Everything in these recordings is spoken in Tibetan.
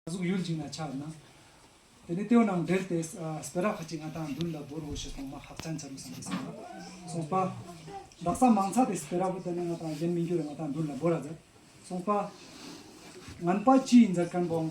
གཟུགས་ཡུལ་འཇིག་ན་ཆགས་ན། དེ་ནས་སྟེའུ་རྣམས་བསྒྲལ་ཏེ་སྦི་རག་ཁ་ཅིག་ང་དང་བདུན་ལ་སྦོར་བོ་ཞེས་གོང་མ་ཧཱ་ཅཱན་བྱ་རུ་སོང་གིས་གསུངས་པ་གསུངས་པ། བདག་ཟ་མང་ཚ་དེ་སྦི་རག་བུ་དེ་ནི་ང་དང་གཞན་མི་འགྱུར་བས་ང་དང་བདུན་ལ་སྦོར་ར་མཛད་གསུངས་པ། ངན་པ་ཅིའི་འཛད་དཀོན་འབོང།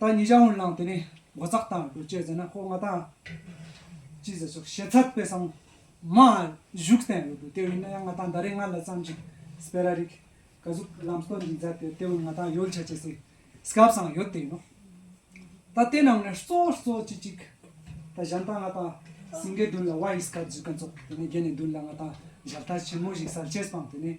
ད་ཉི་ཞག་འོན་ལང་དེ་ནས་སྒོ་ཙག་དང་སྒོ་ལྕེ་ཟེར་ན་ཁོ་ང་དང། ཅི་ཟེར་ཟུག་བྱེད་ཚར་དཔེ་སང་མ་བཞུགས་གཏན་ཡོད་དུ་དེ་བས་ན་ཡང་ང་དང་ད་རེས་ང་ལ་བརྩམས་ཅིག་སྤེ་ར་རིག་ག་གཟུག་ལམ་སྟོན་གྱི་མཛད་དེ་དེ་བས་ང་དང་ཡོལ་བྱ་བྱེད་སའི་སྐབས་སང་ཡོད་དེ་ཡིན་ནོ། ད་དེ་ནང་ནས་གཙོ་བོར་གཙོ་བྱེད་ཅིག་ད་གཞན་དང་ང་དང་སིང་གའི་མདུན་ལ་བ་ཡི་སྐབས་བརྫུས་ཀ་འཚོགས་དེ་ནས་རྒྱལ་ནས་མདུན་ལ་ང་དང་མཇལ་དར་ཆེན་མོ་ཞིག་གསར་བྱེད་སྤངས་དེ་ནས་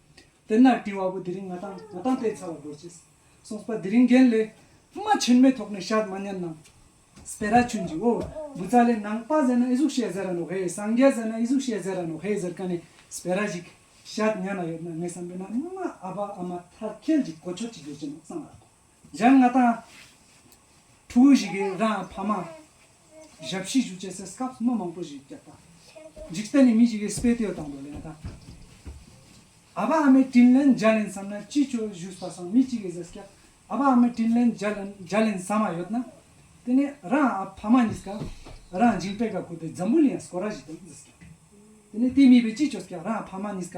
དཔེར་ན་དྲི་བ་པོ་དེ་རིང་ང་དང་ང་དང་བལྟས་ཚར་བ་དགོད་ཅེས་གསུངས་པ་དེ་རིང་རྒན་ལས་རྨ་ཆེན་མའི་ཐོག་ནས་ཤར་མ་ཉན་ནམ། སྤེ་ར་ཆུན་གྱིས་ཨོ། འབུ་རྩ་ལས་ནང་པ་ཟེར་ན་ཨེ་གཟུགས་བཤད་ཟེར་ར་ནོ་ཧེ་སངས་རྒྱས་ཟེར་ན་ཨེ་གཟུགས་བཤད་ཟེར་ར་ནོ་ཧེ་ཟེར་ཀ་ནས་སྤེ་ར་ཞིག་ཤར་ཉན་ན་ཡོད་ན་ངས་བསམ་པའི་ནང་རྨ་ཨ་བ་ཨ་མ་ཐར་ཁལ་གྱི་གོ་ཆོད་ཅིག་ཡོད་ཀྱི་འདུག་བསམ་ར། སྦྱར་ལྔ་དང། ཕྲུ་གུ་བཞི་གི་རང་ཕ་མ། ཞབས་བཞི་བཞུགས་བྱས་སའི་སྐབས་སུ་མི་མང་པོ་བཞི་བརྒྱ་དང། འཇིག་རྟེན་ནས་མི་བཞི་གའི་སྤེལ་ལྟོས་དང་དུ་ལེན་དང། ཨ་ཕ་ཨ་མའི་དྲིན་ལན་བརྒྱ་ལེན་བསམ་ན་ཅི་ཁྱོད་བཞུགས་པ་སོང་མི་གཅིག་གི་ཟས་སྐལ་ཨ་ཕ་ཨ་མའི་དྲིན་ལན་བརྒྱ་ལེན་བསམ་མ་ཡོད་ན། དེ་ནས་རང་ཨ་ཕ་མ་གཉིས་ཀ་རང་སྦྱིན་པད་དཀར་བཀོད་པའི་འཛམ་བུ་ལ་ཡང་སྐོར་ར་བཞི་དང་ཟས་སྐལ། དེ་ནས་དེ་མིན་པའི་ཅི་ཁྱོད་སྐལ་རང་ཨ་ཕ་མ་གཉིས་ཀ་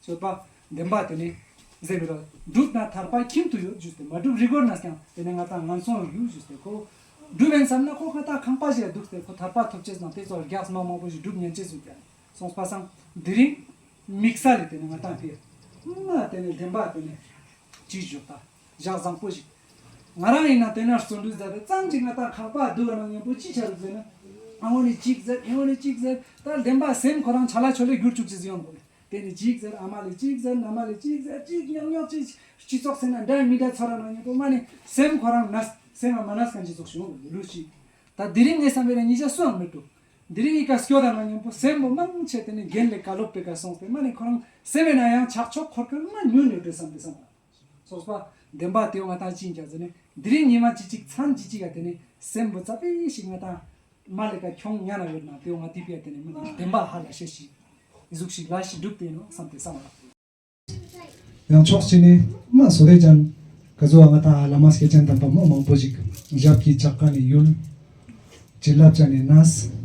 རྩོད་པ། བདེན་པ་དེ་ནི། འཛིན་མི་རུང། སྒྲུབ་དང་ཐར་པ་ཁྱིམ་དུ་ཡོད་བཞུགས་ཏེ་མ་སྒྲུབ་རི་གོར་ན་ཀྱང་དེ་ནི་ང་དང་ང་མཚུངས་ཡོད་བཞུགས་ཏེ་ཁོ། སྒྲུབ་བན་བསམ་ན་ཁོ་ང་དང་ཁང་པ་བཞེས་འདུག་སྟེ་ཁོ་ཐར་པ་ཐོབ་ཆེད་དང་དེ་སོགས་རྒྱགས་སྨྲ་མང་པོ་ཞིག་སྒྲུབ་ཉན་ཆེད་བཞུགས་ཀྱང་སོང་པ་སང། དེ་རིང། མིག་ས་ལས་དེ་ནི་ང་དང་དེ། སྨྲ་དེ་ནི་བདེན་པ་དེ་ནི། ཅེས་བཞུགས་ད། བཞག་བཟང་པོ་ཞིག། ང་རང་ཡིན་ན་དེ་ནས་བརྩོན་འགྲུས་ཟད་པས་ཙམ་གྱིས་ང་དང་ཁང་པ་བསྡུ་བ་ན་གཉེན་པོ་ཅི་བྱ་རུ་ཟེར་ན། ཨ་ཧོ་ནི་ཅིག་ཟེར་ཨེ་ཧོ་ནི་ཅིག་ཟེར། ད་བདེན་པ་སེམས་ཁོ་རང་བྱ་ལ་ཆོ་ལེ་བསྒྱུར་བཅུག་ཅེས་ཡོང་དགོས་པས། དེ་ནི་གཅིག་ཟེར་ཨ་མ་ལས་གཅིག་ཟེར་མནའ་མ་ལས་གཅིག་ཟེར་གཅིག་ཉག་ཉོག་ཅིག་སྤྱི་ཚོགས་ཟེར་ན་འདྲ་ཡིན་མི་འདྲ་ཚོར་ར་ནང་ཉེ་པོ་མ་ནི་སེམས་ཁོ་རང་མནའ་སེམས་རང་མ་མནའ་གང་སྤྱི་ཚོགས་བྱུང་བའི་ལུགས་ཤིག་ད་དེ་རིང་ངའི་བསམ་པའི་ལ་ཉིས་ཆ་སུའང་མི་འདུག་འདི་རིང་གི་ཀ་སྐྱོ་ད་ནང་ཉེ་པོ་སེམས་པོ་མང་ཆེ་དེ་ནི་རྒན་ལས་ཀ་སློབ་གྲྭའི་ཀ་སོང་བས་མ་ནི་ཁོ་རང་སེམས་པའི་ནང་ཡང་ཆགས་ཕྱོགས་འཁོར་ཁ་མ་ཉུལ་ནས་བྲོས་བསམ་འདི་བསམ་པ། སོགས་པ། བདེན་པ་དེ་བ་དག་ཅིས་ཀྱང་བཟོད་ནས། འདི་རིང་ཉི་མ་ཅི་ཅིག་མཚམས་ཅི་ཅིག་ཡ་དེ་ནས། སྲས་འབུ་ཙག་པའི་ཞིག་ང་དང། མ་ལེ་ཀ་ཁྱོང་གཉའ་ན་ཡོད་ན་དེ་བ་དེ་པའི་དེ་ནས་མི་ལ་བདེན་པ་ཧ་ལ་ཤེས་ཤིག། གཟུགས་ཤིག་ལ་ཞིག་སྒྲུབ་བསྟན་ནོ་བསམ་སྟེ་བསམ་ལ། ཡང་ཕྱོགས་གཅིག་ནས། མ་བཟོད་རེ་ཅན། ཀ་བཟོད་བ་ང་དང་ཨ་ལ་མ་སྐྱེས་ཅན་དམ་པ་མོ་མང་པོ་ཞིག། ཞབས་ཀྱིས་བཅག་ཀ་ནས་ཡུལ། བྱིན་རླབས་བྱ་ནས་ན།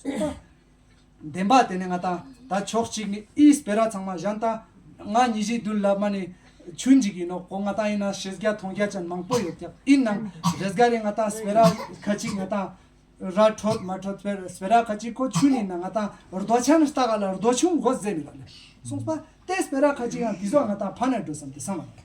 གསུངས་པ། བདེན་པ་དེ་ནི་ང་དང་ད་ཕྱོགས་གཅིག་ནི་ཨིའི་སྤེ་ར་ཚང་མ་གཞན་དང་ང་ཉི་བཞི་བདུན་ལབ་མ་ནི་ཆུ་འཇིག་ཡིན་ནོ་གོ་ང་དང་ཨི་ནང་ཤེས་རྒྱ་མཐོང་རྒྱ་ཅན་མང་པོ་ཡོད་ཀྱང་ཨིན་ནང་རེས་འགའ་རེ་ང་དང་སྤེ་ར་ཁ་ཅིག་ང་དང་ར་འཕྲོད་མ་འཕྲོད་དཔེར་སྤེ་ར་ཁ་ཅིག་ཁོ་ཆུ་ནི་ན་ང་དང་རྡོ་ཆ་ནི་རྟ་ག་ལ་རྡོ་ཆུང་མགོ་བཟས་མི་ལབ་ལེ་གསུངས་པ། དེ་སྤེ་ར་ཁ་ཅིག་ཡང་དེ་ཟོག་ང་དང་ཕ་ནས་འགྲོ་བསམ་དེ་བསམ་མ་ལགས།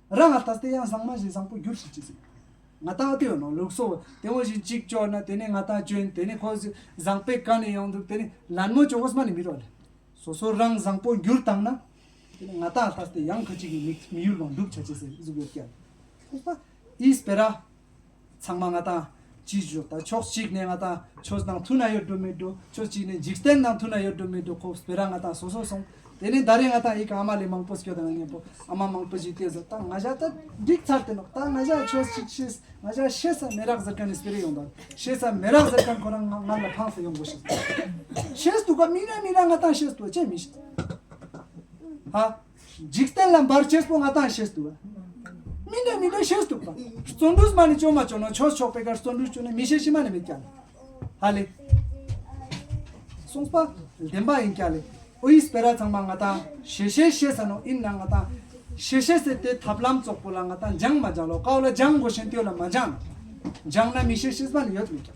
ར་ང་ད་སྟེ་ཡང་བཟང་མ་བཞིན་བཟང་པོ་འགྱུར་ཞིག་ཅེས་གསུངས། ང་ད་ཨཏི་ཡོད་ནོ་ལུགས་སོ། དེ་འོ་བཞིན་ཅིག་ཅོག་ན་དེ་ནས་ང་ད་བྱོན་དེ་ནས་ཁོ་བཟང་པས་ག་ནས་ཡོང་འདུག་དེ་ནས་ལན་མོ་ཅོག་ཨོ་སྨ་ནས་མི་རོ་ལེ། སོ་སོ་རང་བཟང་པོ་འགྱུར་དང་ན། དེ་ནས་ང་ད་ད་སྟེ་ཡང་ཁ་ཅིག་གིས་མི་ཡུལ་ལོངས་འདུག་བྱ་ཅེས་ཟེར་གཟུགས་ཡོད་སྐྱ། ཨིས་པེ་ར། ཚང་མ་ང་དང་གཅིག་བཞུགས་དང་ཕྱོགས་གཅིག་ནས་ང་དང་ཁྱོད་དང་མཐུན་ན་ཡོད་དགྲོ་མི་དགྲོ་ཕྱོགས་གཅིག་ནས་འཇིག་རྟེན་དང་མཐུན་ན་ཡོད་དགྲོ་མི་དགྲོ་ཁོ་བོས་རང་ང་དང་སོ་སོར་སོང། དེ་ནས་ཟླ་རེ་ང་དང་ཡི་གེ་ཨ་མ་ལས་མང་པོ་ཁྱོད་དང་ང་གཉེན་པོ་ཨ་མ་མང་པོ་ཞིག་བལྟས་སོ་ད་ང་བཞག་ད་འགྲིག་ཚར་དེ་ནོག་ད་ང་བཞག་ཁྱོད་ཅིག་ཤེས་ང་བཞག་ཤེས་ས་མེད་རག་ཟེར་མཁན་ནི་སྤེ་རེ་ཡོང་དང་ཤེས་ས་མེད་རག་ཟེར་མཁན་ཁོ་རང་ང་ལ་འཕངས་སེ་ཡོང་དགོ་ཤེས་ཤེས་འདུག་ག་མིན་ན་མིན་རག་ང་དང་ཤེས་དགོ་ཅེས་མི་ཤེས། ཧ། འཇིག་རྟེན་ལ་འབར་ཆེར་སྤོ་ང་དང་ཤེས་ཏུ། མི་འདོད་མི་འདོད་ཤེས་སུ་བཏུབ། བརྩོན་འགྲུས་མ་ནི་ཅོ་མ་ཅོ་ནོ་ཆོས་ཕྱོགས་པའི་ཁར་བརྩོན་འགྲུས་ཅོ་ནི་མི་ཤེས་ཤི་མ་ནི་མི་སྐྱ། ཧ་ལས། གསུངས་པ། བདེན་པ་ཡིན་སྐྱ་ལས། ཨོ་ཡིས་སྤེ་ར་ཚང་མ་ང་དང་ཤེས་ཤེས་ཤེས་ས་ནོ་ཨིན་ན་ང་དང་ཤེས་ཤེས་ཟེར་ཏེ་ཐབས་ལམ་ཙོག་པོ་ལ་ང་དང་སྦྱང་མ་སྦྱང་ལོ་ཀའོ་ལ་སྦྱང་དགོས་ཤེས་མཐོའི་ལ་མ་སྦྱང་ན། སྦྱང་ན་མི་ཤེས་ཤེས་ས་ནི་ཡོད་མི་སྐྱ།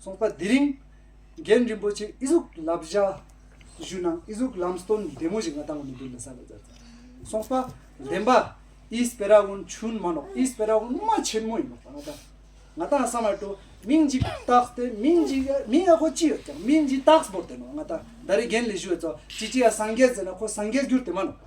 གསུངས་པ་དེ་རིང་རྒན་རིན་པོ་ཆེ་ཨི་གཟུགས་ལབ་བཞག་བཞུགས་གནང་ཨི་གཟུགས་ལམ་སྟོན་བདེ་མོ་ཞིག་ང་དང་མི་འདུག་ལ་ས་ལ་ཛར་ཛར་གསུངས་པ་བདེན་པ་ཨི་སྤེ་ར་ཝུན་ཆུན་མ་ནོག་ཨི་སྤེ་ར་ཝུན་མ་ཆེན་མོ་ཡིན་ནོག་པ་ང་དང་ང་དང་ས་མ་ཏོ་མིང་གཅིག་བཏགས་ཏེ་མིང་གཅིག་ཡ་མིང་ཡ་ཁོ་ཅི་ཡོད་ཀྱང་མིང་གཅིག་བཏགས་སྤོར་ཏེ་ནོག་ང་དང་ཟླ་རེ་རྒན་ལས་བཞུགས་བས་ཚོགས་ཅི་ཅི་ཡ་སངས་རྒྱས་ཟེར་ན་ཁོ་སངས་རྒྱས་གྱུར་ཏེ་མ་ནོག་པ།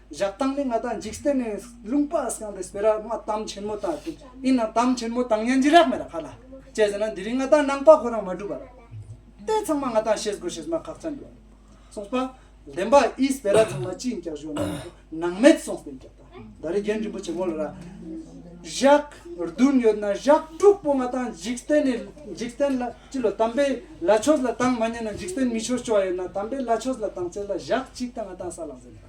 བཞག་སྟངས་ནི་ང་དང་འཇིག་རྟེན་ནས་ལུང་པ་སངས་རྒྱས་པའི་ར་མ་གཏམ་ཆེན་མོ་དང་དེ་ཡིན་ན་གཏམ་ཆེན་མོ་དང་ཡན་ཅི་རག་མེད་ལ་ཁ་ལ་བཅད་ཟེར་ན་འདི་རིང་ང་དང་ནང་པ་ཁོ་རང་མ་བསྒྲུབ་པར་ལྟས་ཚང་མ་ང་དང་ཤེས་དགོས་ཤེས་མ་ཁག་ཚང་དགོས་གསུངས་པ། བདེན་པ་ཨིས་བེ་ར་ཚང་མ་སྤྱི་འགྱག་བཞོ་ན་ནང་མེད་གསུངས་བདེན་འགྱག་དང་ད་རེ་རྒན་རིན་པོ་ཆེ་མོ་ལ་ར་བཞག་བདུན་ཡོད་ན་བཞག་དྲུག་པོ་ང་དང་འཇིག་རྟེན་ནས་འཇིག་རྟེན་ལ་སྤྱི་ལོ་དམ་པའི་ལ་ཆོས་ལ་དང་མ་ཉན་ན་འཇིག་རྟེན་མི་ཆོས་སྤྱོ་བ་ཡོད་ན་དམ་པའི་ལ་ཆོས་ལ་དང་ཚེ་ལ་བཞག་གཅིག་དང་ང་དང་ས་ལ་གཟན།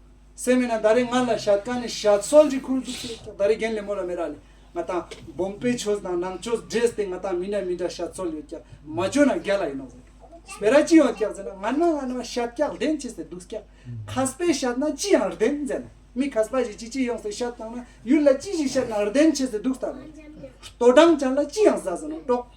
སེམས་མེད་ན་ད་རེས་ང་ལ་ཞྭ་དཀར་ནས་ཞྭ་མཚོ་ལྗི་ཁུར་འཛུགས་བྱེད་ད་རེས་རྒན་ལེབ་མོ་ལ་མེ་རག་ལས་ང་དང་སྦོམ་པའི་ཆོས་དང་ནང་ཆོས་འདྲེས་ཏེ་ང་དང་མི་ན་མི་འདྲ་ཞྭ་མཚོ་ལོས་ཀྱང་མ་བཅོས་ན་རྒྱ་ལ་ཡིན་ནོ་ཟེར་བེ་ར་ཅི་ཡང་སྐྱག་ཟེར་ན་ང་ན་ང་ན་ཞྭ་སྐྱག་ལྡན་ཆེ་ཟེར་འདུག་སྐྱག་ཁ་སྤའི་ཞྭ་ན་ཅི་ཡང་རྡན་མཛད་ན་མི་ཁ་སྤ་ཞིག་ཅི་ཅི་ཡོང་ཟེར་ཞྭ་བཏང་ན་ཡུལ་ལ་ཅི་ཞིག་ཤར་ན་རྡན་ཆེ་ཟེར་འདུག་ལྟ་བས་ལྟོ་འགྲངས་ཅན་ལ་ཅི་ཡང་ཟ་ཟེར་ན་དཀྲོག།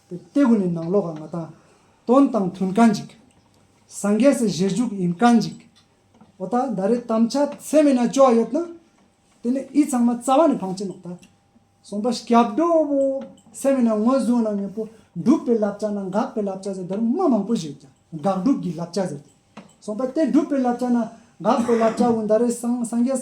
སྟེ་ཀུན་ནས་ནང་ལོག་ག་ང་དང། དོན་དང་མཐུན་ག་འཇིག། སངས་རྒྱས་སུ་བཞེར་འཇུག་ཡིན་ག་འཇིག། འོ་ད་ད་རེས་དམ་བཅའ་ཚད་མེད་ན་སྐྱོ་བ་ཡོད་ན། དེ་ནས་ཨི་ཚང་མ་རྩ་བ་ནས་འཕང་བྱེད་ནོག་ད། གསུངས་པ་སྐྱབས་འགྲོ་བོ། ཚད་མེད་ན་ངོས་བཟུང་ན་ངེས་པོ། འགྲུབ་པའི་བསླབ་བྱ་ན་འགག་པའི་བསླབ་བྱ་ཟེར་དར་མ་མང་པོ་ཞིག་ཡོད་ཀྱང་དགག་སྒྲུབ་ཀྱི་བསླབ་བྱ་ཟེར་ཏེ། གསུངས་པ་སྟེ་འགྲུབ་པའི་བསླབ་བྱ་ན་འགག་པའི་བསླབ་བྱའོ་ད་རེས་སངས་རྒྱས།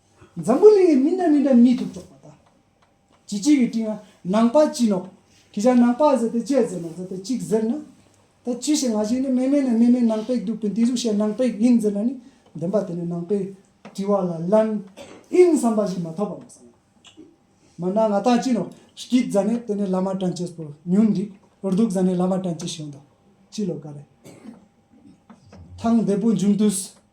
འཛམ་བུ་གླིང་གི་མི་འདྲ་མི་འདྲ་མིས་ཐུགས་ཕྱོགས་པ་དང། བྱེད་གཅིག་གི་སྤྲིང་ན་ནང་པ་སྤྱིན་ནོ། ཁྱེད་ཅག་ནང་པ་ཟེར་ཏེ་དཔྱད་ཟེར་མ་ཟེར་ཏེ་གཅིག་ཟེར་ན། ད་ཅི་ཞིག་ང་ཞིག་ནི་སྨན་མེད་ན་སྨན་མེད་ནང་པས་འདུག་པས་འདི་གཟུགས་བྱས་ནང་པས་ཡིན་ཟེར་ན་ནི་བདེན་པ་དེ་ནི་ནང་པའི་དྲི་བ་ལ་ལན་ཨིན་བསམ་པ་ཞིག་མ་ཐོབ་པ་མ་ཟད། མར་ནག་ང་ཐང་སྤྱིན་ནོ། སྐྱིད་བཟའ་ནས་དེ་ནས་བླ་མ་དྲན་བྱེད་པོ་ཉུང་འདུག་འོར་སྡུག་བཟའ་ནས་བླ་མ་དྲན་བྱེད་ཞན་འདུག་སྤྱི་ལོ་ག་རེ། ཐང་བདེ་པོ་འབྱུང་དུས་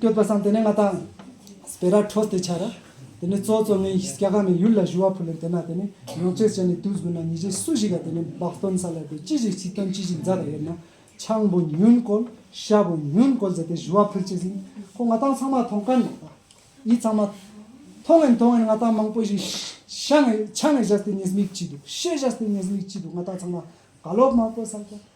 བསྟོད་པ་སངས་དེ་ནས་ང་དང། སྤེ་ར་ཁྲོ་སྟེ་ཆ་ར། དེ་ནས་གཙོ་གཙོ་ངའི་སྐྱ་ཁ་མའི་ཡུལ་ལ་བཞུ་བ་ཕུ་ལན་དེ་ན་དེ་ནས་ཡོངས་ཚོད་བྱས་ནས་དུས་དགུ་ན་ཉི་ཆའི་སུ་ཞིག་ལ་དེ་ནས་འབག་སྟོན་ས་ལ་དེ་ཅི་ཞིག་ཚིག་དོན་ཅི་ཞིག་མཛའ་དང་ཡོད་ན་ཆང་བུ་ཉུན་བསྐོལ་ཤ་བུ་ཉུན་བསྐོལ་བྱས་ཏེ་བཞུ་བ་ཕུར་བྱས་ཟིན་ཁོ་ང་དང་ཚང་མ་མཐོང་ག་ནས་ད་ཡིད་ཚང་མ་མཐོང་ངན་མཐོང་ངན་ང་དང་མང་པོ་ཞིག་ཤ་ངས་ཆ་ངས་བཞག་སྟེ་ཉེས་དམིགས་ཅི་འདུག་ཤེས་བཞག་སྟེ་ཉེས་དམིགས་ཅི་འདུག་ང་དང་ཚང་མ་དགའ་ལོག་མང་པོ་བསགས་ཀྱང།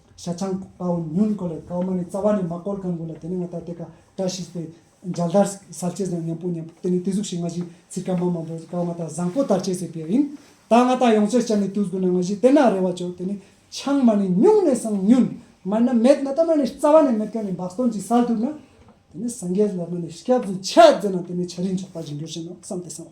ཤ་ཆང་དཔའ་བོ་ཉུལ་དགོས་ལ་ཀའོ་མ་ནི་རྩ་བ་ནས་མ་བསྐོར་གང་དགོས་ལ་དེ་ནི་ང་ལྟར་དེ་ཀ་བཀྲ་ཤིས་པའི་མཇལ་དར་གསར་བྱེད་བཟང་ཉམས་པོ་ཉམས་པོ་དེ་ནི་དེ་གཟུགས་ཤིག་ང་བཞིན་ཚིག་ཀ་མ་མང་པོས་ཀའོ་མ་དག་བཟང་པོ་དར་བྱེད་ཟེར་བས་ཡིན། ད་ང་དག་ཡོངས་རྩོད་བྱ་ནི་བཏུལ་དགོས་ན་ང་བཞིན་དེ་ན་རེ་བ་བྱོས་དེ་ནི་ཆང་མ་ནི་སྨྱུང་ནས་སང་ཉུལ། མར་ན་མེད་ནཱ་ད་མ་ནི་རྩ་བ་ནས་མེད་ཀ་ནི་འབག་སྟོང་གཅིག་སར་དུར་ན། དེ་ནི་སངས་རྒྱས་ལ་མ་ནི་སྐྱབས་སུ་འཆད་མཛད་ན་དེ་ནི་བྱ་རིན་ཆོག་པ་བཞིན་འགྱུར་བཞིན་ནོ་བསམ་སྟེ་སང།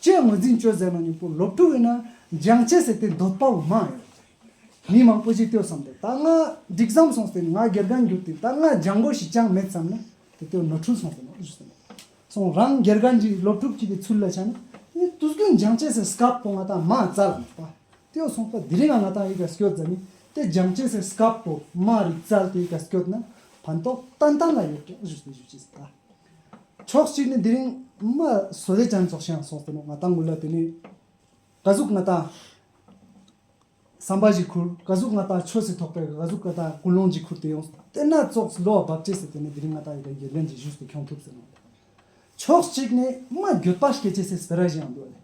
བཅས་ངོས་འཛིན་བཅོས་མཛད་གནང་མྱུག་པོ་ལོ་དྲུག་ཡོད་ན་འཇང་ཆེ་ཟེར་ཏེ་འདོད་པ་འོ་མ་ཡོད། མི་མང་པོ་ཅིག་ལྟོས་བསམ་སྟེ་ད་སྔ་འགྲིག་བསམ་སོང་ཟེར་ནས་ང་སྒེར་གང་འགྱུར་ཏེ་ད་སྔ་འཇང་མགོ་ཞིག་ཅང་མེད་བསམ་ན་དེ་ལྟོས་ནོར་འཁྲུལ་སོང་ཟེར་ནས་བཞུགས་སོང། སོང་རང་སྒེར་གང་འགྱིག་ལོ་དྲུག་ཅིག་གི་ཚུལ་ལ་ཆགས་ན་ནི་དུ་སྐུ་འཇང་ཆེ་ཟེར་སྐབས་པོ་ང་དང་མ་རྩ་ལ་མེད་པ་ལྟོས་སོང་པ་དེ་རིང་ང་ང་དང་ཡི་ག་སྐྱོད་རྫ་ནི་ཏེ་འཇང་ཆེ་ཟེར་སྐབས་པོ་མ་རིག་རྩལ་དེ་ཡི་ག་སྐྱོད་ན་ཕན་ཐོག་ཏན་ཏན་ལ་ཡོད་ཀྱང་བཞུགས་ཟེར་བཞུགས་ཅི་ཟེར་ད། ཕྱོགས་གཅིག་ནི་འདི་རིང་མ་བཟོ་རེ་ཅན་ཚོགས་ཤིང་སོགས་དེ་ནས་ང་ད་ངུ་ལ་དེ་ནས་ག་གཟུགས་ང་ད་ཟམ་པ་ཞིག་ཁུར་ག་གཟུགས་ང་ད་ཆོས་སྲིད་ཐོག་པའི་ག་གཟུགས་ང་ད་ཀུན་སློང་ཅིག་ཁུར་དེ་ཡོང་དེ་ན་ཙོགས་བློ་བ་བབས་བྱས་ཟེར་དེ་ནས་འདི་རིང་ང་ད་ཡི་ག་འགྱེར་ལེན་གྱི་བཞུས་སུ་འཁྱོང་ཐུབ་ཟེར་ནོ། ཕྱོགས་གཅིག་ནི་མ་འགྱོད་པ་སྐྱེ་བྱེད་སེ་སྤེ་ར་ཞིག་ཡང་འདུག་ལེ།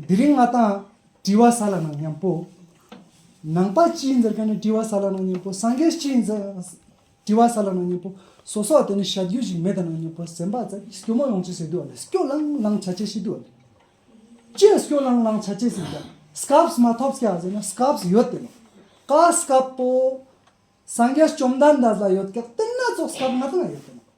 འདི་རིང་ང་ད་བྲིས་བ་ས་ལ་ནང་ཉམས་པོ། ནང་པ་སྤྱིའི་འཛེར་ཁ་ནི་བྲིས་བ་ས་ལ་ནང་ཉམས་པོ་སངས་རྒྱས་སྤྱིའི་འཛེར། དྲི་བ་ས་ལ་ནང་སྙིང་པོ་སོ་སོ་བ་དེ་ནི་བྱ་རྒྱུད་ཅིག་མེད་དང་ནང་སྙིང་པོ་ཟིན་པ་ཙམ་གྱིས་སྐྱོ་མོ་ཡོང་ཆེད་ཟེར་དུས་བ་ལས་སྐྱོ་ལང་ལང་བྱ་ཆེད་ཤེས་དུས་བ་ལས་ཀྱིས་སྐྱོ་ལང་ལང་བྱ་ཆེད་ཟིན་ཀྱང་སྐབས་མ་ཐོབ་སྐྱ་ཟེར་ན་སྐབས་ཡོད་དེ་མོ། ཀ་སྐབས་པོ། སངས་རྒྱས་བཅོམ་ལྡན་འདས་ལ་ཡོད་སྐད་བསྟན་སྣ་ཚོགས་སྐབས་ང་དང་ཡོད་དེ་མོ།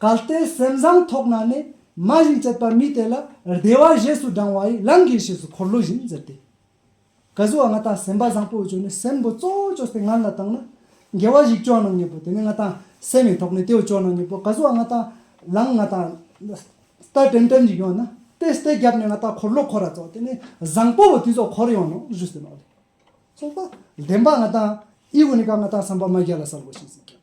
གལ་ཏེ་སེམས་བཟང་ཐོག་ན་ནི་མ་བཞིན་བསྐྱེད་པ་མི་དེ་ལ་བདེ་བ་བཞེས་སུ་འབྲང་བ་ཡི་ལམ་གྱིས་ཞེས་སུ་འཁོར་ལོ་བཞིན་འཛིན་ཏེ། ག་གཟུ་བ་ལྔ་དང་སེམས་པ་བཟང་པོའི་བཅུད་ནི་སེམས་སྒོ་གཙོ་བོ་ཅོ་སྟེ་ངར་ལ་བཏང་ན། དགེ་བ་བཞི་སྐྱོང་ན་ངེས་པོ་དེ་ནི་ལྔ་དང་སེམས་ཡིན་ཐོག་ནས་དེ་བས་སྐྱོང་ན་ངེས་པོ་ག་གཟུ་བ་ལྔ་དང་ལངས་ལྔ་དང། སྟ་གྲིམ་གྲིམ་གྱིས་ཡོང་ན་དེ་སྟེ་རྒྱབ་ནས་ལྔ་དང་འཁོར་ལོ་འཁོར་ར་ཚོགས་དེ་ནི་བཟང་པོ་བོ་དེ་ཚོ་འཁོར་ཡོང་ནོ་བཞུ་ཟིན་ནོ་ལས། ཚོགས་པ་བདེན་པ་ལྔ་དང་དབྱིག་གུ་ནི་ག་ལྔ་དང་བསམ་པ་མ་བརྒྱ་ལ་གསལ་བོ་ཞིག་ཟིན་ཀྱང།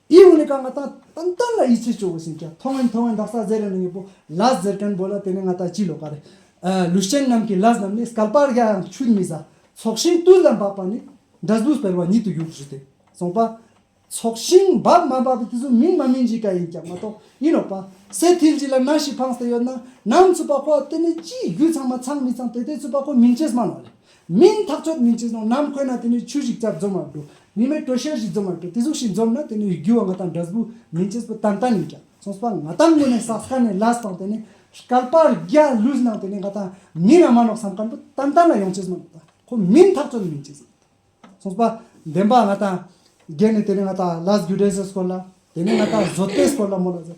ཨི་ཝུ་ནི་ཀ་ང་ཏང་ཏན་ཏན་ལ་ཡིད་ཆེས་བཅོ་བོ་སིན་ཀྱ་ཐོ་ངན་ཐོ་ངན་དག་ས་ཟེར་ཡང་ནི་ངས་པོ་ལ་ཟེར་ཀན་པོ་ལ་དེ་ནི་ང་ཏ་ཅི་ལོ་ཀ་རེད་ཨ་ལུས་ཅན་རྣམས་ཀྱི་ལ་རྣམས་ནི་སྐལ་པར་ཡ་ཡང་ཆུད་མི་ཟ་ཚོགས་ཤིང་ཏུ་ལ་འབབ་པ་ནི་འདྲ་ཟུ་སྤེལ་བ་ཉིད་དུ་གྱུར་ཟུ་སྟེ་གསུངས་པ། ཚོགས་ཤིང་འབབ་མ་འབབ་དེ་ཟུ་མིན་མ་མིན་གྱི་ཀ་ཡིན་ཀྱང་མ་གཏོགས་ཡིན་ནོ་པ་སེ་ཐིལ་གྱི་ལ་ན་ཞིག་འཕངས་ཏེ་ཡོད་ན་ནམ་ཚུད་པ་ཁོ་ཨ་དེ་ནི་ཅིའི་རྒྱུས་ཚང་མ་ཚང་མི་ཚང་དེ་དེ་ཚུད་པ་ཁོ་མིན་ཅེས་སྨྲ་ནོ་ལེ་མིན། འཐབ་རྩོད་མིན་ཅེས་ནོ་ནམ་འཁོད་ན་དེ་ནི་ཆུ་ཞིག་ཅར་འཛོམས་མ་འགྲོ། མི་མེད་དྲོད་གཤེར་ཞིག་འཛོམས་མ་འགྲོ་དེ་གཟུགས་ཤིག་འཛོམས་ན་དེ་ནི་རྒྱུ་བ་ང་དང་འདྲ་སྦུག་མིན་ཅེས་པོ་ཏན་ཏན་ཡིན་ཀྱང་སོང་པ་ང་དང་དངོས་གནས་ས་སྐལ་ནས་ལས་སྟངས་དེ་ནི་སྐལ་པར་རྒྱ་ལུས་སྣང་དེ་ནི་ང་དང་མིན་རང་མ་ནོག་བསམ་ཀན་པོ་ཏན་ཏན་ལ་ཡོང་ཅེས་སྨྲ་འདོད་ད་ཁོ་མིན་འཐབ་རྩོད་མིན་ཅེས་སོང་པ་བདེན་པ་ང་དང་རྒྱལ་ནི་དེ་ནི་ང་དང་ལས་རྒྱུ་འབྲས་ཟེར་སྐོར་ལ་དེ་ནི་ང་དང་བཟོ་ལྟའི་སྐོར་ལ་མོ་ལ་ཟེར་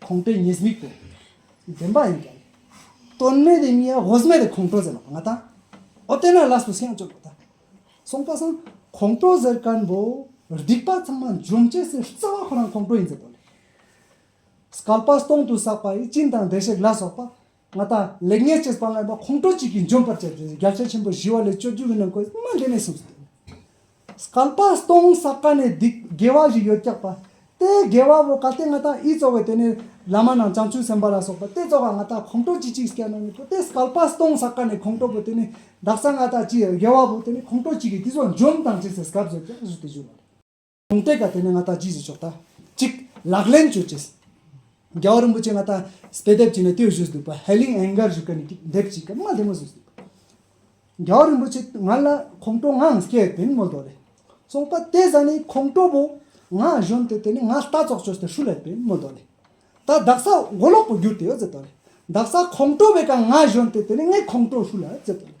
ཁོང་པའི་ཉེས་དམིགས་དང། བདེན་པ་ཡིན་ཀྱང། དོན་མེད་དེ་མིའི་ཧོས་སྨད་དེ་ཁོང་ཀྲོ་ཟེར་ལ་ང་ད། ཨོ་དེ་ན་ལ་སུ་སེང་ཅོ་ལོ་ད། སོང་པ་སང། ཁོང་ཀྲོ་ཟེར་ཀར་འབོ། སྡིག་པ་ཚང་མ་འཇོམས་བྱེད་སེར་རྩ་བ་ཁོ་རང་ཁོང་ཀྲོ་ཡིན་ཟེར་དོ་ལེ། སྐལ་པ་སྟོང་དུ་བསགས་པ་ཡི་སྤྱིན་དང་བདེ་གཤེགས་ལ་སོགས་པ། ང་དང་ལེགས་ཉེས་ཀྱི་དཔང་ངར་མ་ཁོང་ཁྲོ་གཅིག་གིས་འཇོམས་པར་བྱས་ཏེ་རྒྱབ་ཆ་ཆེན་པོ་བཞི་བ་ལས་བཅོ་བརྒྱད་པའི་ནང་ཁོས་སྨྲ་བདེ་ནས་གསུངས་སོ། བསྐལ་པ་སྟོང་ས་ག་ནས་སྡིག་དགེ་བ་བཞི་ཡོད་སྐྱག་པ། དེ་དགེ་བ་བོ་ག་དེ་ང་དང་ཨི་གཙོ་བས་དེ་ནས་བླ་མ་ནང་བྱང་ཆུབ་སེམས་དཔའ་ལ་སོགས་པ་དེ་གཙོ་ག་ང་དང་ཁོང་ཁྲོ་གཅིག་གཅིག་སྐྱག་ནང་ནས་བུ་དེ་བསྐལ་པ་སྟོང་ས་ག་ནས་ཁོང་ཁྲོ་བོ་དེ་ནས་བདག་ཅག་ང་དང་ཅི་དགེ་བ་བོ་དེ་ནས་ཁོང་ཁྲོ་གཅིག་གིས་འདི་ཚོ་འཇོམས་དང་ཅི་ཟེར་བསྐལ་པ་བཞི་བརྒྱ་ཟུར་དེ་བཞུགས་ལ། གོང་སྤེལ་དང་དེ་ནས་ང་ད་ཇིས་བཟོས་ཆོག་ད། གཅིག། ལག་ལེན་བྱོས་ཅེས། རྒྱལ་བ་རིན་པོ་ཆེ་ང་ད་སྤེལ་དེབ་ཅིག་ནས་དེ་བཞུས་འདུག་པ་ཧའེ་ལིང་ཨན་གར་བཞུགས་སྐད་ནས་ཀྱི་དེབ་ཅིག་གི་མ་ལྷེ་མོ་བཟོས་འདུག་པ། རྒྱལ་བ་རིན་པོ་ཆེ་ང་ལ་ཁོང་ཁྲོ་ངང་སྐད་དེ་ནི་མོ་དོ་རེད། གསུངས་པ་དེ་བཟང་ནི་ཁོང་ཁྲོ་བོ། ང་གཞོན་དེ་དེ་ནི་ང་ལྟ་ཙོག་ཅོས་དེ་ཧྲུ་ལེ་པེན་མོ་དོ་རེད། ད་བདག་ས་མགོ་ལོག་པོ་བསྒྱུར་དེ་ཡོ་ཛེ་དོ་རེད། བདག་ས་ཁོང་ཁྲོ་བོས་ཀང་ང་གཞོན་དེ་དེ་ནི་ངའི་ཁོང་ཁྲོ་ཧྲུ་ལ་ཛེ་དོ་རེད།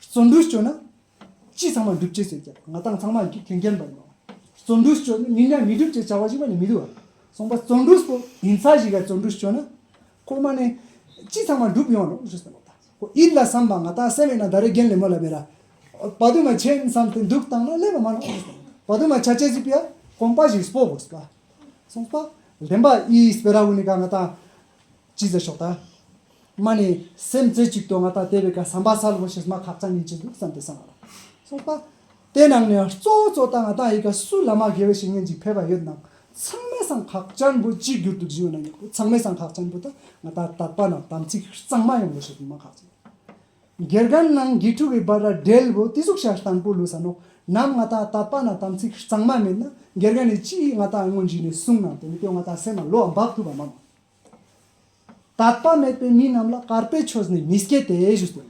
བརྩོན་འགྲུས་སྤྱོད་ན་ཅི་ཚང་མ་འགྲུབ་ཅེས་བརྗོད་ཀྱང་ང་དང་ཚང་མ་གྱི་དོན་རྐྱེན་པ་ཡིན་ནོ། བརྩོན་འགྲུས་སྤྱོད་ན་མིག་ནད་མི་འགྲུབ་ཅེས་བྱ་བ་ཞིག་པ་ནི་མི་འདུག་བར་གསུངས་པ་བརྩོན་འགྲུས་སྤོ། ཉིན་ཚ་ཞིག་ལ་བརྩོན་འགྲུས་སྤྱོད་ན། ཁོ་མ་ནི་ཅི་ཚང་མ་འགྲུབ་ཡོང་རོགས་ཞེས་གསུངས་པ་དང་ཁོ་ཨིར་ལ་བསམས་པ་ང་དང་སེམས་ཡོད་ན་ད་རེས་རྒན་ལེབ་མོ་ལ་བེ་ར་བ་དུ་མ་བྱེད་བསམས་ཏེ་འདུག་བཏང་ན་ཀླད་པ་མ་ནོར་ཞེས་གསུངས་བ་དུ་མ་བྱ་བྱེད་ཅིག་པའི་གོམ་པ་ཞིག་སྤོ་བར་གསུངས་པ། གསུངས་པ། ལྡན་པ་ཨིས་བེ་ར་བུ་ནི་གང་ང་དང། ཅི་ཟེར་ཤོག་ད། མ་ནི་སེམས་རྩེ་གཅིག་ཏུ་ང་ད་དེ་བས་ཀ་ཟམ་པ་ས་ལོ་མ་ཤི་སྨྲ་ཁག་ཙང་ཉན་གྱི་འདུག་བསམ་སྟེ་བསམ་ལ་སོང་པ། དེ་ནང་ནས་གཙོ་བོ་གཙོ་ད་ང་ད་ཡི་ག་སུ་ལ་མ་དགེ་བའི་བཤེས་གཉེན་ཅིག་ཕེབས་པ་ཡོད་ནང་ཚང་མས་སང་ཁག་ཅན་པོ་གཅིག་གྱུར་དུ་བཞུགས་ན་ཉོག་གི་ཚང་མས་སང་ཁག་ཅན་པོ་ད་ང་ད་དག་པ་ན་དམ་ཚིག་གཙང་མ་ཡོང་བའི་ཞེས་སྨྲ་ཁག་ཅན་དགེ་རྒན་ནང་དགེ་ཕྲུག་གི་བར་ར་འབྲེལ་བོ་ཏི་གཟུགས་ཤ་སྟངས་པོ་ལུས་ས་ནོག་ནམ་ང་ད་དག་པ་ན་དམ་ཚིག་གཙང་མ་མེད་ན་དགེ་རྒན་ནི་ཅི་ཡིས་ང་ད་དངོས་གཞི་ནས་གསུངས་ནང་དེ་མི་དོན་ང་ད་སེམས་ལ་ལོ་འབག་ཐུབ་པ་མང། དད་པ་མེད་པའི་མི་རྣམས་ལ་གར་པའི་ཆོས་ནི་མི་སྐྱེ་སྟེ་ཞུས་ཏེ།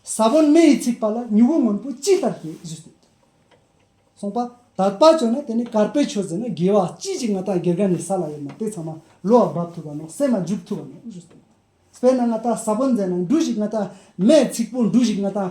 ས་བོན་མེ་ཡིས་ཚིག་པ་ལ་མྱུ་གུ་སྔོན་པོ་ཅི་ལྟར་སྐྱེ་ཞུས་ཏེ། གསུངས་པ། དད་པ་བྱོན་ན་དེ་ནི་གར་པའི་ཆོས་ཟིན་ན་དགེ་བ་ཅི་ཞིག་ང་དང་དགེ་རྒན་ནི་ས་ལ་ཡོད་ན་དེ་ཚང་མ་ལུས་བ་འབབ་ཐུབ་པ་ནོ་སེམས་མ་འཇུག་ཐུབ་པ་ནོ་ཞུས་ཏེ། དཔེར་ན་ང་དང་ས་བོན་མཛད་ན་འབྲུ་ཞིག་ང་དང་མེས་ཚིག་པོ་འབྲུ་ཞིག་ང་དང་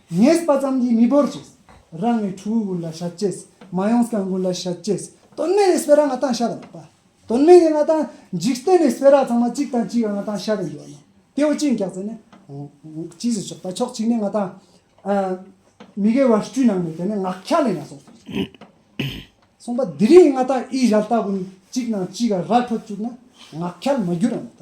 ངེས་པ་ཙམ་གྱིས་མི་འབོར་ཅེས། རང་ངོས་ཁྲོ་བོའི་ཀུན་ལ་བྱ་ཅེས། མ་ཡོངས་སྐྱབས་མགོན་ལ་བྱ་ཅེས། དོན་མེད་ཡི་སྤེལ་ར་ང་དང་ཤ་དང་པ། དོན་མེད་ཡི་ང་དང། འཇིག་རྟེན་ཡི་སྤེལ་ར་ཚང་མ་གཅིག་དང་གཅིག་ག་ང་དང་ཤ་དང་འགྱུར་བ་ཡོང། དེ་བས་གཅིག་འགྱག་ཚེ་ནི། གཅིག་སུ་ཆོག་ད་ཕྱོགས་གཅིག་ནས་ང་དང། མི་དགེ་བ་བཅུ་ནང་ནས་དེ་ནི་ངག་འཁྱག་ལས་ན་སོང་ཟེར། གསུངས་པ་འདི་རིང་ང་དང་ཨི་ཞལ་ལྟ་བུ་ནི་གཅིག་ནང་གཅིག་ག་ར་འཕྲོ་བཅུག་ན་ངག་འཁྱག་མ་འགྱུར་རམ་ད།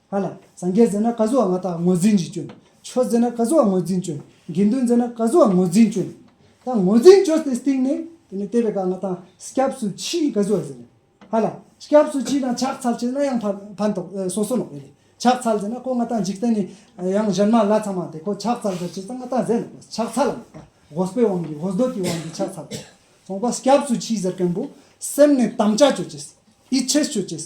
ཧ་ལ། སངས་རྒྱས་མཛད་ན་བཀའ་སྲོལ་བ་ང་དག་ངོས་འཛིན་གྱིས་སྤྱོན། ཆོས་མཛད་ན་བཀའ་སྲོལ་བ་ངོས་འཛིན་སྤྱོན། དགེ་འདུན་མཛད་ན་བཀའ་སྲོལ་བ་ངོས་འཛིན་སྤྱོན། ད་ངོས་འཛིན་སྤྱོད་དེ་སྟེང་ནས། དེ་ནས་བལྟས་པའི་བཀའ་ང་དང་སྐྱབས་སུ་མཆིའི་བཀའ་སྲོལ་བ་ཟེར། ཧ་ལ། སྐྱབས་སུ་མཆི་དང་ཕྱག་འཚལ་བྱས་ན་ཡང་ཕན་ཐོག་སོ་སོ་ནོག་པའི་ལས། ཕྱག་འཚལ་མཛད་ན་ཁོ་ང་དང་འཇིག་རྟེན་ནས། ཡང་གཞན་མ་ལ་ཚང་མ་དེ་ཁོ་ཕྱག་འཚལ་མཛད་བྱས་ཙང་ང་དང་ཟས་ནོག་པའི་ཕྱག་འཚལ་ལ་ནོག་པ། དགོས་པའི་དབང་གིས་ཧོས་སྡོད་ཀྱི་དབང་གིས་ཕྱག་འཚལ་བ། ཚོང་པ་སྐྱབས་སུ་མཆིའི་ཟེར་མཁན་པོ། སེམས་ནས་དམ་བཅའ་སྤྱོད་བྱས། ཡིད་ཆེས་སྤྱོད་བྱས།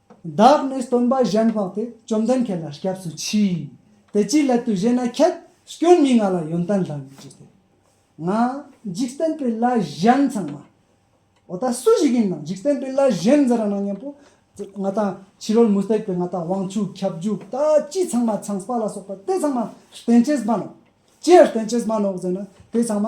བདག་ནི་སྟོན་པ་གཞན་དཔག་སྟེ་བཅོམ་ལྡན་ཁྱེད་ལ་སྐྱབས་སུ་མཆི། དེ་ཅིའི་སླད་དུ་ཞེ་ན་ཁྱེད་སྐྱོན་མེད་ང་ལ་ཡོན་ཏན་ལྷག་མེད་ཀྱིས་ཏེ། ང། འཇིག་རྟེན་པའི་བླ་གཞན་ཚང་མ། འོ་ད་སུ་ཞིག་ཡིན་ནམ་འཇིག་རྟེན་པའི་བླ་གཞན་འཛིན་ར་ནང་སྙམ་པོ། ང་དང་ཕྱི་རོལ་མུ་སྟེགས་པའི་ང་དང་དབང་ཕྱུག་ཁྱབ་འཇུག་ད་ཅི་ཚང་མ་ཆང་སྤགས་ལ་སོགས་པ་དེ་ཚང་མ་བསྟན་བྱའི་སྨན་ནོ། ཅི་ཡང་བསྟན་བྱའི་སྨན་ནོ་ཟེར་ན་དེ་ཚང་མ།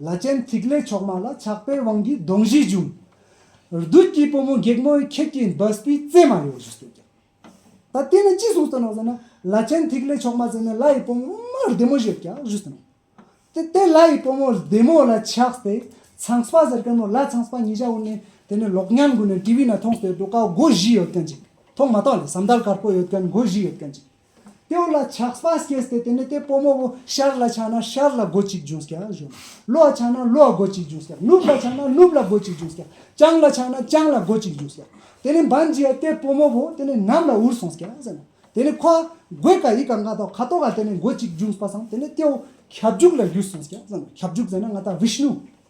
བླ་ཆེན་ཐིག་ལེ་མཆོག་མ་ལ་ཆགས་པའི་དབང་གིས་གདོང་བཞི་འབྱུང། རྡུལ་གྱི་བུ་མོ་སྒེག་མོའི་ཁྱེད་ཀྱི་འབའ་སྤུའི་རྩེ་མ་ཡོད། ད་དེ་ནས་ཅི་གསུངས་ཟེར་ན། བླ་ཆེན་ཐིག་ལེ་མཆོག་མ་ཟེར་ནས་ལྷ་ཡི་བུ་མོ་བདེ་མོ་ཞིག་ཡོད། དེ་ལྷ་ཡི་བུ་མོ་བདེ་མོ་ལ་ཆགས་ཏེ་ཚངས་པ་ཟེར་མཁན་མོ་ལྷ་ཚངས་པ་ཉིད་བྱ་འོངས་ནས་དེ་ནས་ལོག་ཉམས་གུད་ནས་ཏི་བི་ན་མཐོང་ཟེར་འདུག་ཀ་སྒོ་བཞི་ཡོད་མཁན་ཅིག་མཐོང་མ་མཐོང་ལས་ཟམ་ཐལ་དཀར་པོ་ཡོད་མཁན་སྒོ་བཞི་ཡོད་མཁན་ཅིག། སྟེའུ་ལ་ཆགས་པ་སྐྱེས་སྟེ་དེ་ནས་དེ་སྤོ་མོ་བོ་ཤར་ལ་ཆགས་ན་ཤར་ལ་སྒོ་གཅིག་འབྱུང་སྐྱ་གཞོན་ལོ་ལ་ཆགས་ན་ལོ་ལ་སྒོ་གཅིག་འབྱུང་སྐྱ་ནུབ་ལ་ཆགས་ན་ནུབ་ལ་སྒོ་གཅིག་འབྱུང་སྐྱ་བྱང་ལ་ཆགས་ན་བྱང་ལ་སྒོ་གཅིག་འབྱུང་སྐྱ་དེ་ནས་འབའ་འཇིག་ཡ་དེ་སྤོ་མོ་བོ་དེ་ནས་ནམ་ལ་འུར་སོང་སྐྱ་ཟེར་ནོ་དེ་ནས་ཁོ་ཨ་གོས་ཀ་ཡི་ཀ་མག་ཏོག་ཁ་དོག་ཨ་དེ་ནས་སྒོ་གཅིག་འབྱུང་སྤ་སང་དེ་ནས་སྟེའུ་ཁྱབ་འཇུག་ལ་བཞུད་སོང་སྐྱ་ཟེར་ནོ་ཁྱབ་འཇུག་ཟེར་ན་ང་ཏ་བྷི་ཤནུ།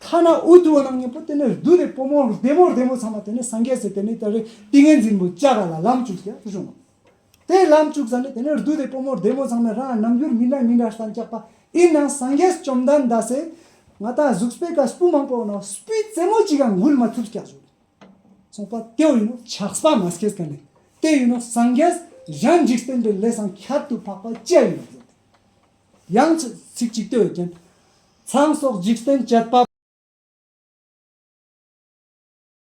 ཐ་ན་འུ་ཐུག་རྣམས་གཉིས་པོ་དེ་ནས་བདུད་སྡེ་པོ་མོ་རྡེ་མོ་རྡེ་མོ་ཚང་མ་དེ་ནས་སངས་རྒྱས་སུ་དེ་ནས་ད་རེས་ཏིང་ངེ་འཛིན་པོ་ལྕགས་ར་ལ་ལམ་བཅུག་ཟེར་ཡང་བྱུང། དེ་ལམ་བཅུག་ས་ནས་དེ་ནས་བདུད་སྡེ་པོ་མོ་རྡེ་མོ་ཚང་མས་རང་རྣམ་འགྱུར་མི་འདྲ་མི་འདྲ་སངས་རྒྱས་པ་ཨི་ནང་སངས་རྒྱས་བཅོམ་ལྡན་འདས་སེ་ང་དང་གཟུགས་སྤེལ་ཀ་སྤུ་མང་པོའོ་ནང་སྤུའི་རྩེ་མོ་གཅིག་གང་འགུལ་མ་ཐུབ་སྐྱ་བཟོ་ཚོང་པ་དེའོ་ཡིན་ནོ་ཆགས་པ་མ་སྐྱེས་ཀ་ནས་དེ་ཡིན་ནོ་སངས་རྒྱས་གཞན་འཇིག་རྟེན་པའི་ལས་སམ་ཁྱད་དུ་འཕགས་པ་སྐྱེ་ཡིན་ནོ་བཟོ་དེ་ཡང་ཚིག་གཅིག་ལྟོས་ཅན། ཚངས་སོགས་འཇིག་རྟེན་བཅད་པ།